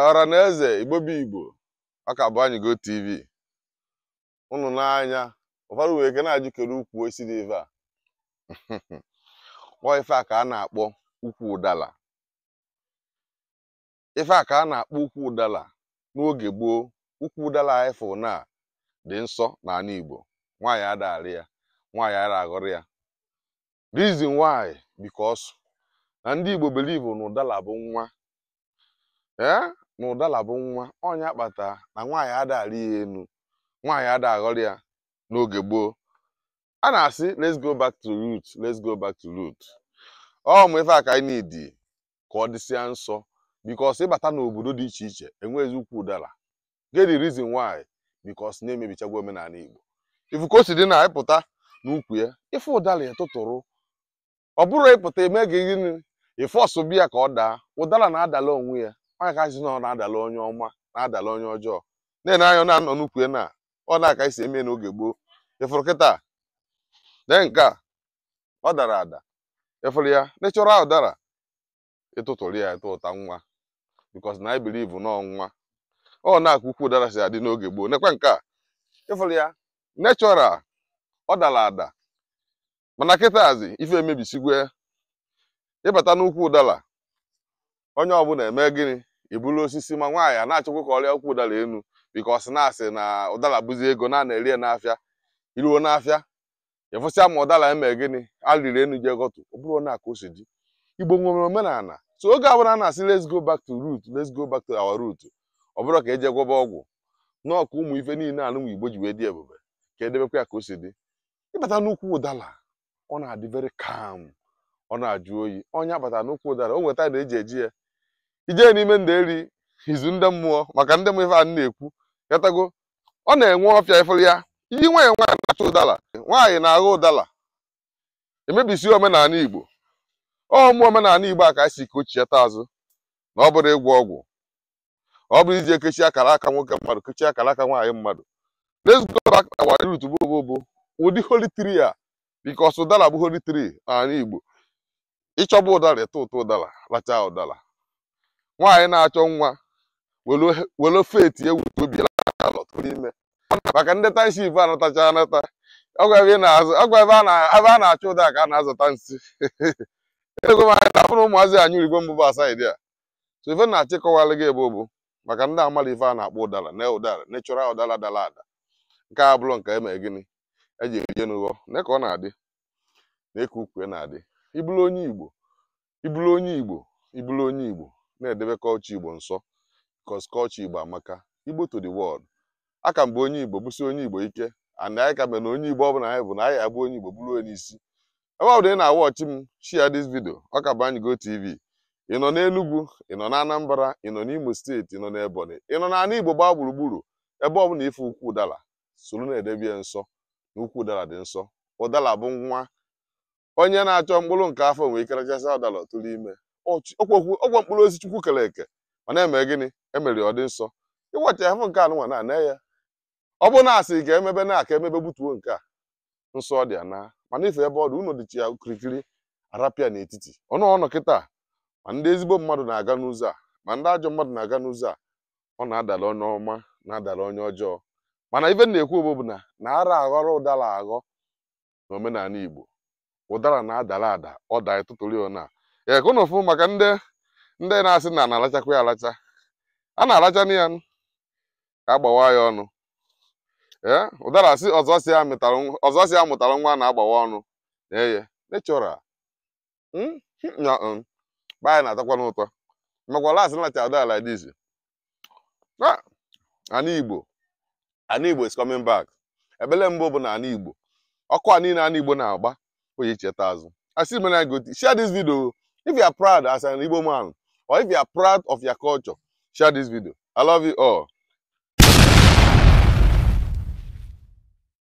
ọra na eze igbo bụ igbo ọ ka bụ anyị go tv ụnụ n'anya ụfọdụ nwee ike na-ajụ kere ukwu osisi dị ife a ọ ife a ka a na-akpọ ukwu ụdala ife a ka a na-akpọ ukwu ụdala n'oge gboo ukwu ụdala anyị fụ na-adị nsọ n'ala igbo nwaanyị ada arị ya nwaanyị ada aghọrọ ya reason why because na ndị igbo believe na ụdala bụ nwa ee na ụdala bụ nwa ọ nya kpata na nwaanyị ada arị ya enu nwaanyị ada aghọrị ya n'oge gboo a na-asị let's go back to root let's go back to root ụmụ ife a ka anyị need ka ọ dịsịa nsọ because ị bata n'obodo dị iche iche enweghịzi ukwu ụdala get the reason why because na emebichagwo omenala igbo ị fụ ka o si dị na ị pụta n'ukwu ya ị fụ ụdala ya tụtụrụ ọ bụrọ ị pụta eme gị gịnị ị fọsụbe ya ka ọ daa ụdala na-adala onwe ya ọ nya ka a sị na ọ na-adala onye ọma na-adala onye ọjọọ na-ene anya na-anọ n'ukwu ya na ọnwa ka e si eme n'oge gboo ị fụrụ kịta dee nke a ọ dara ada ị fụrụ ya natural ọ dara ị tụtụrụ ya ị tụta nwa because na e believe na ọ nwa ọnwa ka ukwu ụdala si adị n'oge gboo nekwa nke a ị fụrụ ya natural ọ dara ada mana kịtazi ife emebisigwe ị bata n'ukwu ụdala onye ọbụla eme gịnị eburu osisi ma nwaanyị a na-achọkwa ka ọ rịa ukwu ụdala enu because na a sị na ụdala bụzi ego na a na-ere ya n'afịa i ruo n'afịa ị fụsịa ma ụdala eme gịnị a rịrị enu je ghọtụ ọ bụrọ na ka o si dị igbo nwere omenala so oge ọbụla a na-asị let's go back to root let's go back to our root ọ bụrọ ka e je gwọba ọgwụ na ọ bụ ụmụ ife niile anụnwa igbo ji wee dị ebube ka e debekwa ya ka o si dị ị bata n'ukwu ụdala ọ na-adị very calm ọ na-ajụ oyi onye bata n'ukwu ụdala o nweta na eji eji ya ije n'ime ndeeri izu ndị mmụọ maka ndị mmụọ ife a na-ekwu yatago ọ na-enwe ọfịa ị fụrụ ya iyi nwaanyị nwaanyị na-achọ ụdala nwaanyị na-aghọ ụdala emebisi omenala igbo ụmụ omenala igbo a ka anyị sị ka o chighata azụ na ọ bụrọ ịgwọ ọgwụ ọ bụrọ ije kechi akara aka nwoke mmadụ kechi akara aka nwaanyị mmadụ let's go back to our root bụ bụ bụ ụdị holy tree a because ụdala bụ holy tree n'ala igbo ị chọba ụdala ị tụtụ ụdala rachaa ụdala nwaanyị na-achọ nwa were- were faith ewu obi alọt n'ime maka ndị tanship anatacha anata ọgwa ebe ị na-azụ ọgwa ebe a na- ebe a na-achụ ụda ka a na-azụta nsị ego m anyị na-abụrụ ụmụazị anyị urigo mbụ bụ asaịdị a so ife m na-achọ ịkọwara gị ebe a bụ maka ndị amara ife a na-akpọ ụdara na ụdara natural ụdara dara ada nke abụrọ nke eme gịnị eji eje n'ụghọ na ka ọ na-adị na eke ukwu na-adị ị bụrụ onye igbo ị bụrụ onye igbo ị bụrụ onye igbo na-edebe culture igbo nsọ cos culture igbo amaka igbo to the world aka m bụ onye igbo bụsie onye igbo ike ana anyị ka mere na onye igbo ọbụla anyị bụ na anyị abụ onye igbo bụrụ onye isi ebe ọ bụna ị na-awọchi m share this video ọ ka bụ anyị go tv ị nọ n'Enugu ị nọ n'Anambra ị nọ n'Imo steeti ị nọ n'Ebonyi ị nọ n'ala Igbo gbaa gburugburu ebe ọ bụla ị fụ ukwu ụdara soro na-edebe ya nsọ na ukwu ụdara dị nsọ ụdara bụ nwa onye na-achọ mkpụrụ nke afọ nwee ike rachasị ụdara ọ tụrụ ime ọchị- ọkwa okwu- ọkwa mkpụrụ osisi chukwu kere eke ma na-eme gịnị emere ọ dị nsọ ị wacha ya afọ nke anụnwa na-ana ya ọ bụrụ na a sị ka emebe na aka emebe gbutuo nke a nsọ ọ dị ya na mana ife ebe ọ dị ụnọ dịchi ya kirikiri a rapụ ya n'etiti ọ nọ ọ nọ kịta ma ndị ezigbo mmadụ na-aga n'ụzọ a ma ndị ajọ mmadụ na-aga n'ụzọ a ọ na-adala onye ọma na-adala onye ọjọọ mana ife m na-ekwu bụ bụ na anara aghọrọ ụdara aghọ na omenala Igbo ụdara na-adara ada ọ daa ị tụtụrụ ya na ya ka ụnụ fụ maka ndị ndị na-asị na na-alachakwa ya alacha a na-alacha na ya nụ, ka a gbawa ya ọnụ ee ụdara sị ọzọ si ya mụtara nwa- ọzọ si ya mụtara nwa na-agbawa ọnụ na-eye natural Mm, mm, ya, mm. Be anyị na-atọkwanụ ụtọ makwa last m lacha ụdala like this Ah, ana igbo ana igbo is coming back ebele mbụ bụ na ana igbo ọkụ a niile ana igbo na-agba oyi cheta azụ asị mere anyị go tv share this video if you are proud as an igbo man or if you are proud of your culture share this video i love you all